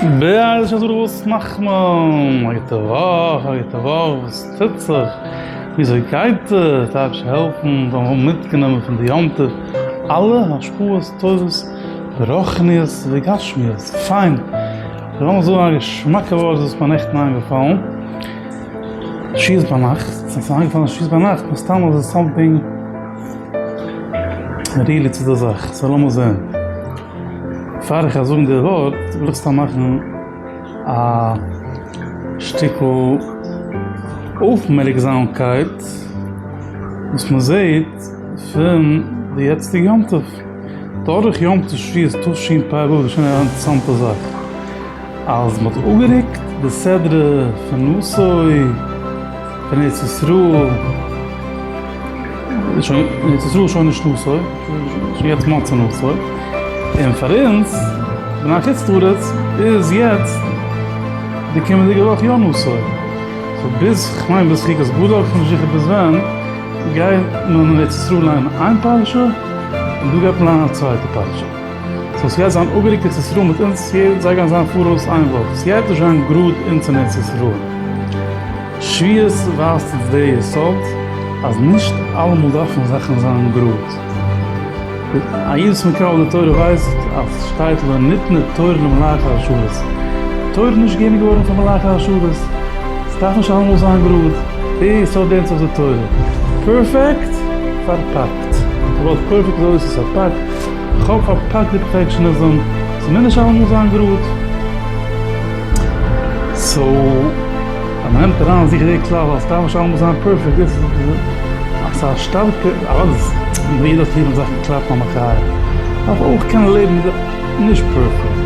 בעז ה איז דא וואס מאכט מען? א גוטע וואך, א גוטע וואך, וואס טוט זיך? וויאזוי גייט עס? טייטש העלפן זאל מען האבן מיטגענומען פון די יום טוב אלע השפעות טובות ברוחניות וגשמיות, פיין, אבער לאמיר זאגן א געשמאקע ווארט וואס איז מיר נעכטן איינגעפאלן שעות ביינאכט, און ס'איז מיר איינגעפאלן שעות ביינאכט מסתם איז עס סאמטינג ריליט צו די זאך, סא לאמיר זען. פאר איך וועל זאגן די ווארט וויל איך סתם מאכן א שטיקל אויפמערקזאמקייט וואס מען זעט פון די יעצטיגע יום טוב, תאריך יום תשרי איז תשפ א, געשען א אינטערעסאנטע זאך. אז מען האט אפגערוקט די סדרה פון נשוי פון ארץ ישראל, איז שוין אין ארץ ישראל שוין נישט נשוי, איז שוין יעצט מצה נשוי, און פאר אונז בני חוץ לארץ איז יעצט די קומענדיגע וואך יא נשוי, סאו ביז כ'מיין ביז חוקת גדול, כ'בין נישט זיכער ביז ווען, גייט מען אין ארץ ישראל לייענען איין פרשה, און דא גייט מען לייענען א צווייטע פרשה. סאו ס'גייט זיין אפגעריקט ארץ ישראל מיט אונז צו יעדע זיי גייען זיין פאראויס איין וואך ס'גייט נישט זיין גראד אונז און ארץ ישראל שוויות ווייזט אונז דער יסוד אז נישט אלעמאל דארפן זאכן זיין גראד א איד וואס מקרב די תורה ווייסט אז ס'שטייט לא ניתנה תורה למלאכי השרת תורה איז נישט געגעבן געווארן פאר מלאכי השרת ס'דארף נישט אלעמאל זיין גראד דער יסוד לערנט זיך די תורה פערפעקט פארפאקט וויבאלד פערפעקט איז אויס איז פארפאקט. כ'האף אז פארק די פראטעקשן אז זאל צומינדערשט אלעמאל זיין גראד. סאו אז מ'נעמט אריין זיכער די כלל אז ס'דארף נישט אלעמאל זיין פערפעקט דאס איז אז ס'איז א שטארקע אז יעדער האט ליב ווען זאכן קלאפן א מחיה. דארף אויך קענען לעבן מיט די נישט פערפעקט.